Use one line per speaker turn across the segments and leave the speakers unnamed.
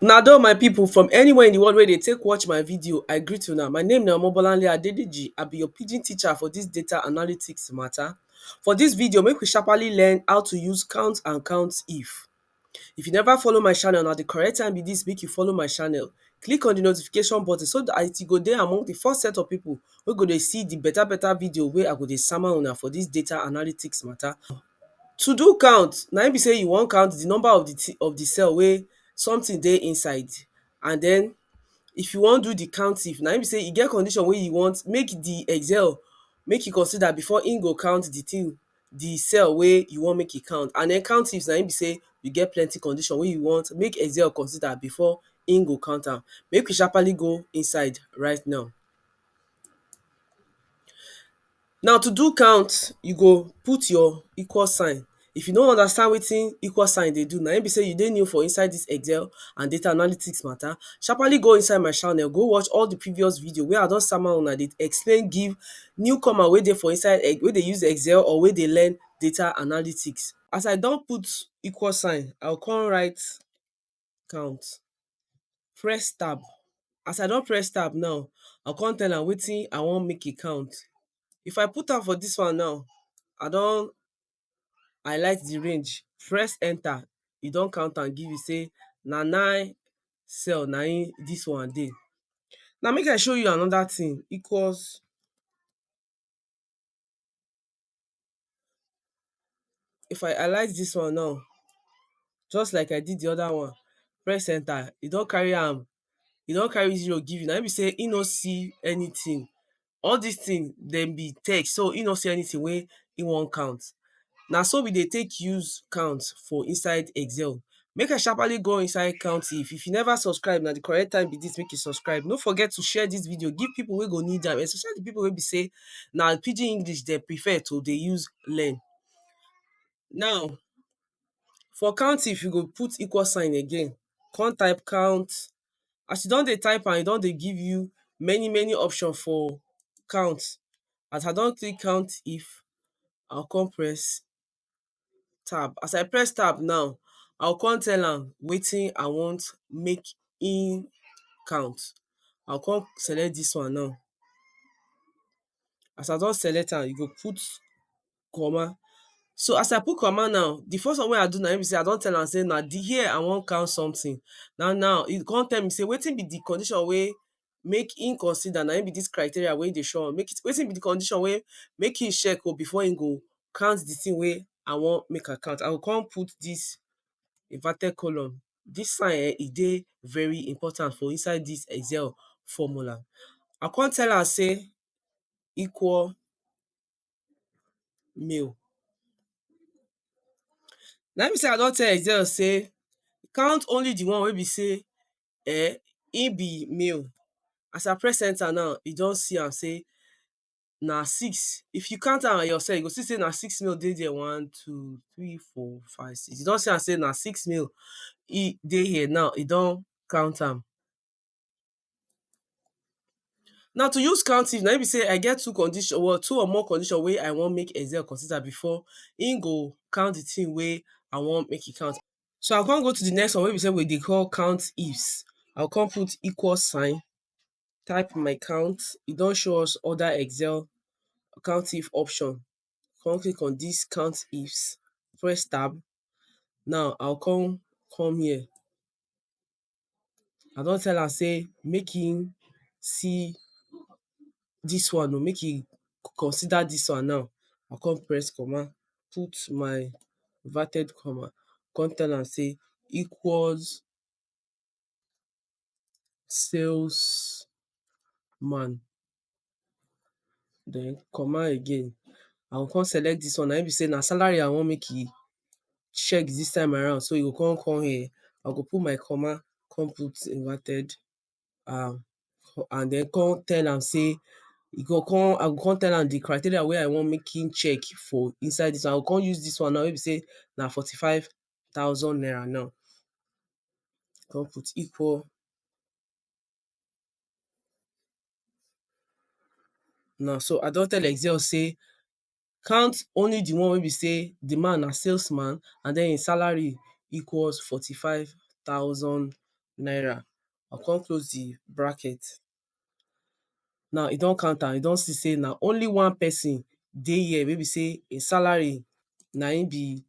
Una do my people from anywhere in the world where they take watch my video, I greet you now. My name na Omobolanle Adedeji. I be your pidgin teacher for this data analytics matter. For this video, make we sharply learn how to use count and count if. If you never follow my channel, now the correct time be this, make you follow my channel. Click on the notification button so that it go there among the first set of people who go to see the better, better video where I go to summon una for this data analytics matter. To do count na im be sey you wan count the number of the of the cell wey something dey inside and den if you wan do the counting na im be sey e get condition wey you want make the excel make e consider before im go count the thing the cell wey you want make e count and den counting na im be sey e get plenty condition wey you want make excel consider before im go count am make we sharpaly go inside right now Now to do count, you go put your equal sign. If you no understand wetin equal sign dey do, na im be sey you dey new for inside dis Excel and data analytics matter, sharpaly go inside my channel, go watch all de previous video wey I don sama una dey explain give new comer wey dey for inside um wey dey use Excel or wey dey learn data analytics. As I don put equal sign, I go come write count press tab as I don press tab now I go come tell am wetin I want make e count if I put am for dis one now I don highlight di range press enter e don count am give me sey na nine cell na im dis one dey. Now make I show you another thing equals If I alight dis one now, just like I did the other one, press enter, e don carry am, e don carry zero give you. Na im be sey e no see anything. All dis things, dem be text. So, e no see anything wey e wan count. Na so we dey take use count for inside excel make I sharpaly go inside countif if you never subscribe na di correct time be dis make you subscribe no forget to share dis video give pipu wey go need am especially di pipu wey be sey na pidgin English dem prefer to dey use learn. Now for countif you go put equal sign again come type count as you don dey type am e don dey give you many many option for count as I don click countif I go come press tab. As I press tab now, I go come tell am wetin I want make im count. I go come select dis one now. As I don select am, e go put comma. So as I put comma now, the first one wey I do na im be sey I don tell am sey na the here I want count something. Na now, e con tell me sey wetin be the condition wey make im consider na im be dis criteria wey dey show am make wetin be di condition wey make im check oh before im go count di thing wey I wan make I count I go come put dis inverted column dis sign um e dey very important for inside dis excel formula I go come tell am say equal male na im be say I don tell excel say count only di one wey be say um e be male as I press enter now e don see am sey na six if you count am your self you go see sey na six male dey there one two three four five six you don see am sey na six male e dey here now e don count am now to use counting na im be sey I get two condition or two or more condition wey I want make excel consider before im go count the thing wey I want make e count So I come go to the next one wey be say we dey call count ifs. I go come put equal sign, type my count. E don show us other excel count if option. Come click on dis count ifs, press tab. Now I go come come here. I don tell am sey make im see dis one oh, make im consider dis one now, I come press comma, put my inverted comma, come tell am sey equals sales man. den comma again I go come select dis one na im be sey na salary I want make e check dis time around so e go come come here I go put my comma come put inverted um and den come tell am sey e go come I go come tell am di criteria wey I want make im check for inside dis one I go come use dis one now wey be sey na forty five thousand naira now come put equal Now so I don tell Excel sey count only the one wey be sey the man na sales man and den im salary equals forty five thousand naira. I con close the bracket. now e don count am e don see sey na only one person dey here wey be sey e salary na im be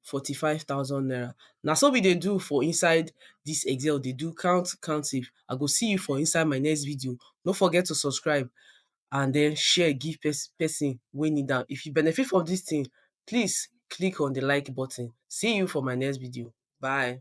fourty five thousand naira na so we dey do for inside this excel dey do count counting i go see you for inside my next video no forget to subscribe and then share give person wey need am if you benefit from this thing please click on the like button see you for my next video bye